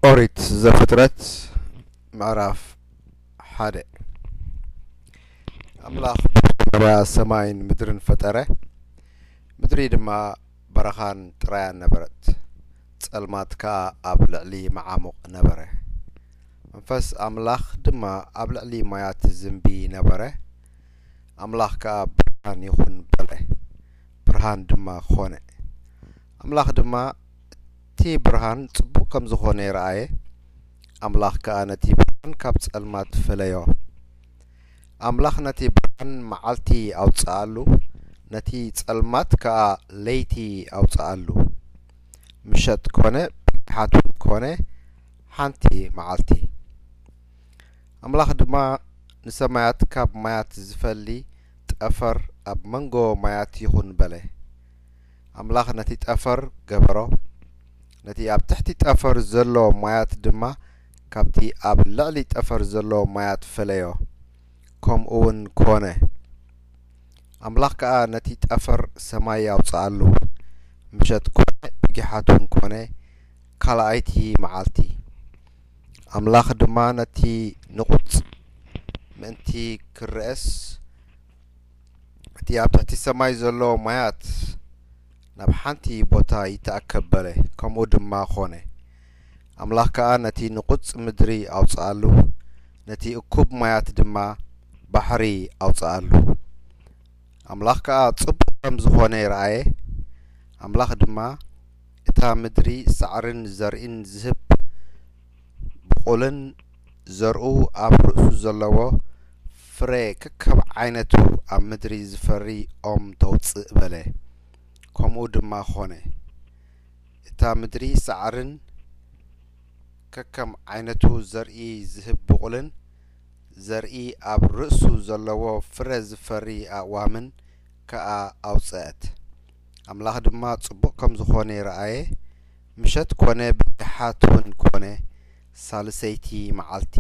ኦሪት ዘፍጥረት ምዕራፍ ሓደ ኣምላኽ መጀመርያ ሰማይን ምድርን ፈጠረ ምድሪ ድማ በረኻን ጥራያን ነበረት፣ ጸልማት ከኣ ኣብ ልዕሊ መዓሙቕ ነበረ። መንፈስ ኣምላኽ ድማ ኣብ ልዕሊ ማያት ይዝንቢ ነበረ፣ ኣምላኽ ከኣ ብርሃን ይኹን በለ፣ ብርሃን ድማ ኾነ። ኣምላኽ ድማ እቲ ብርሃን ጽቡቕ ከም ዝኾነ ረኣየ፣ ኣምላኽ ከኣ ነቲ ብርሃን ካብ ጸልማት ፈለዮ። ኣምላኽ ነቲ ብርሃን መዓልቲ ኣውጽኣሉ፣ ነቲ ጸልማት ከኣ ለይቲ ኣውጽኣሉ። ምሸት ኮነ ብርሃት ውን ኮነ ሓንቲ መዓልቲ። ኣምላኽ ድማ ንሰማያት ካብ ማያት ዝፈሊ ጠፈር ኣብ መንጎ ማያት ይኹን በለ። ኣምላኽ ነቲ ጠፈር ገበሮ፣ ነቲ ኣብ ትሕቲ ጠፈር ዘሎ ማያት ድማ ካብቲ ኣብ ልዕሊ ጠፈር ዘሎ ማያት ፈለዮ። ከምኡውን ኰነ። ኣምላኽ ከኣ ነቲ ጠፈር ሰማይ ኣውጽኣሉ። ምሸት ኰነ፣ ብጊሓትውን ኰነ፣ ካልኣይቲ መዓልቲ። ኣምላኽ ድማ ነቲ ንቑጽ ምእንቲ ክርኣስ፣ እቲ ኣብ ትሕቲ ሰማይ ዘሎ ማያት ናብ ሓንቲ ቦታ ይተኣከብ በለ፣ ከምኡ ድማ ኰነ። ኣምላኽ ከኣ ነቲ ንቑጽ ምድሪ ኣውጽኣሉ፣ ነቲ እኩብ ማያት ድማ ባሕሪ ኣውጽኣሉ። ኣምላኽ ከኣ ጽቡቕ ከም ዝዀነ ረኣየ፣ ኣምላኽ ድማ፣ እታ ምድሪ ሳዕርን ዘርኢን ዝህብ ብቑልን ዘርኡ ኣብ ርእሱ ዘለዎ ፍረ ከከብ ዓይነቱ ኣብ ምድሪ ዝፈሪ ኦም ተውጽእ በለ። ከምኡ ድማ ዀነ። እታ ምድሪ ሣዕርን ከከም ዓይነቱ ዘርኢ ዚህብ ብቝልን፣ ዘርኢ ኣብ ርእሱ ዘለዎ ፍረ ዚፈሪ ኣእዋምን ከኣ ኣውጽአት። ኣምላኽ ድማ ጽቡቕ ከም ዝኾነ ረኣየ፣ ምሸት ኮነ ብድሓትውን ኮነ፣ ሣልሰይቲ መዓልቲ።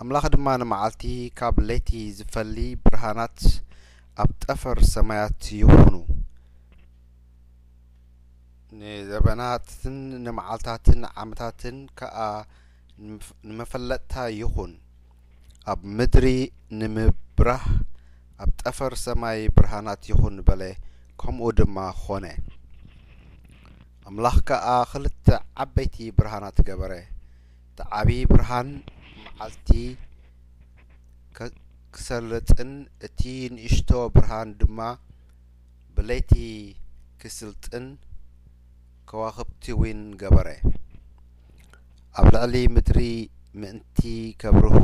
ኣምላኽ ድማ ንመዓልቲ ካብ ለይቲ ዚፈሊ ብርሃናት ኣብ ጠፈር ሰማያት ይኹኑ፣ ንዘበናትን ንመዓልታትን ዓመታትን ከኣ ንመፈለጥታ ይኹን ኣብ ምድሪ ንምብራህ ኣብ ጠፈር ሰማይ ብርሃናት ይኹን በለ ከምኡ ድማ ኾነ ኣምላኽ ከኣ ኽልተ ዓበይቲ ብርሃናት ገበረ እቲ ዓቢ ብርሃን መዓልቲ ኽሰልጥን እቲ ንእሽቶ ብርሃን ድማ ብለይቲ ኪስልጥን ከዋኽብቲ ውን ገበረ። ኣብ ልዕሊ ምድሪ ምእንቲ ከብርሁ፣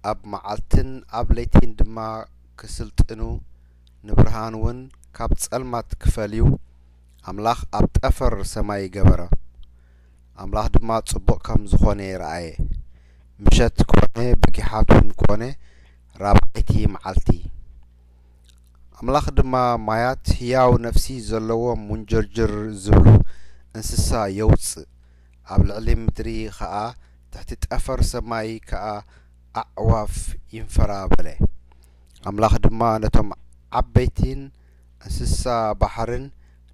ኣብ መዓልትን ኣብ ለይቲን ድማ ኪስልጥኑ፣ ንብርሃን ውን ካብ ጸልማት ኪፈልዩ፣ ኣምላኽ ኣብ ጠፈር ሰማይ ገበረ። ኣምላኽ ድማ ጽቡቕ ከም ዝኾነ ረኣየ። ምሸት ኮነ ብጊሓቱን ኮነ ራብዓይቲ መዓልቲ። ኣምላኽ ድማ ማያት ህያው ነፍሲ ዘለዎም ሙንጅርጅር ዝብሉ እንስሳ የውጽእ፣ ኣብ ልዕሊ ምድሪ ኸኣ ትሕቲ ጠፈር ሰማይ ከኣ ኣዕዋፍ ይንፈራ በለ። ኣምላኽ ድማ ነቶም ዓበይቲን እንስሳ ባሕርን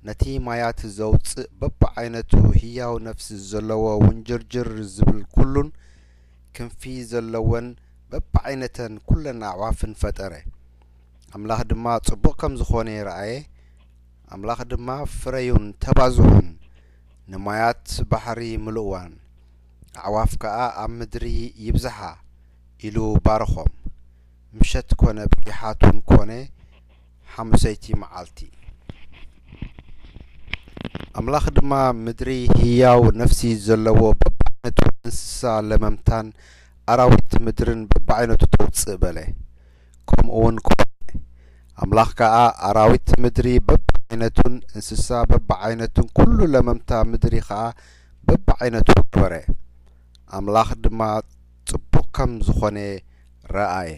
ነቲ ማያት ዘውጽእ በብዓይነቱ ህያው ነፍሲ ዘለዎ ውንጅርጅር ዝብል ኩሉን ክንፊ ዘለወን በብዓይነተን ኩለን ኣዕዋፍን ፈጠረ። ኣምላኽ ድማ ጽቡቕ ከም ዝኾነ ረኣየ፣ ኣምላኽ ድማ ፍረዩን ተባዝሑን፣ ንማያት ባሕሪ ምልእዋን፣ ኣዕዋፍ ከኣ ኣብ ምድሪ ይብዝሓ ኢሉ ባረኾም። ምሸት ኮነ ብጊሓቱን ኮነ ሓሙሰይቲ መዓልቲ። ኣምላኽ ድማ ምድሪ ህያው ነፍሲ ዘለዎ በብዓይነቱ እንስሳ ለመምታን ኣራዊት ምድርን በብዓይነቱ ተውጽእ በለ። ከምኡውን ኩባእ። ኣምላኽ ከኣ ኣራዊት ምድሪ በብዓይነቱን እንስሳ በብዓይነቱን ኵሉ ለመምታ ምድሪ ኸኣ በብዓይነቱ ገበረ። ኣምላኽ ድማ ጽቡቕ ከም ዝዀነ ረኣየ።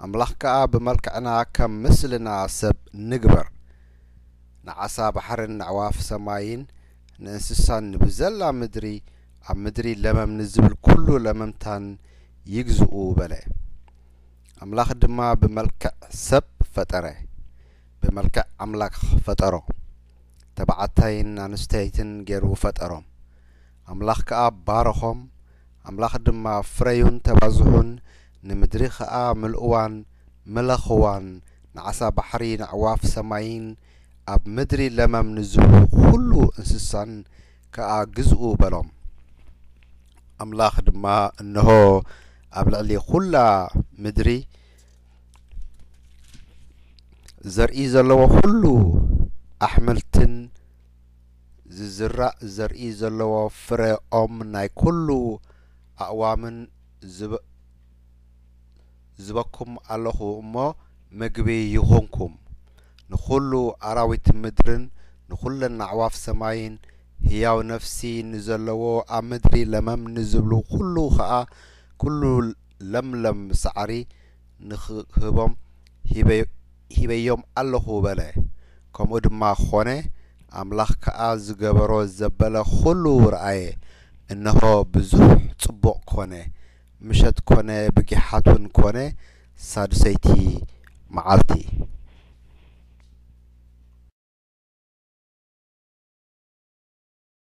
ኣምላኽ ከኣ ብመልክዕና ከም ምስልና ሰብ ንግበር፣ ንዓሳ ባሕርን ነዕዋፍ ሰማይን ንእንስሳን ንብዘላ ምድሪ ኣብ ምድሪ ለመም ንዝብል ኩሉ ለመምታን ይግዝኡ በለ። ኣምላኽ ድማ ብመልክዕ ሰብ ፈጠረ፣ ብመልክዕ ኣምላክ ፈጠሮ፣ ተባዕታይን ኣንስተይትን ገሩ ፈጠሮም። ኣምላኽ ከኣ ባረኾም፣ ኣምላኽ ድማ ፍረዩን ተባዝሑን፣ ንምድሪ ኸኣ ምልእዋን ምለኽዋን፣ ንዓሳ ባሕሪ፣ ነዕዋፍ ሰማይን ኣብ ምድሪ ለመም ንዝብሉ ኹሉ እንስሳን ከኣ ግዝኡ በሎም። ኣምላኽ ድማ፣ እንሆ፣ ኣብ ልዕሊ ዅላ ምድሪ ዘርኢ ዘለዎ ዅሉ ኣሕምልትን ዚዝራእ ዘርኢ ዘለዎ ፍረ ኦም ናይ ኵሉ ኣእዋምን፣ ዝበኩም ኣሎኹ እሞ ምግቢ ይኹንኩም ንኹሉ ኣራዊት ምድርን ንኹለን ኣዕዋፍ ሰማይን ህያው ነፍሲ ንዘለዎ ኣብ ምድሪ ለመም ንዝብሉ ኹሉ ኸኣ ኩሉ ለምለም ሳዕሪ ንኽህቦም ሂበዮም ኣሎኹ በለ ከምኡ ድማ ኾነ ኣምላኽ ከኣ ዝገበሮ ዘበለ ኹሉ ረኣየ እነሆ ብዙሕ ጽቡቕ ኮነ ምሸት ኮነ ብጊሓት ውን ኮነ ሳዱሰይቲ መዓልቲ።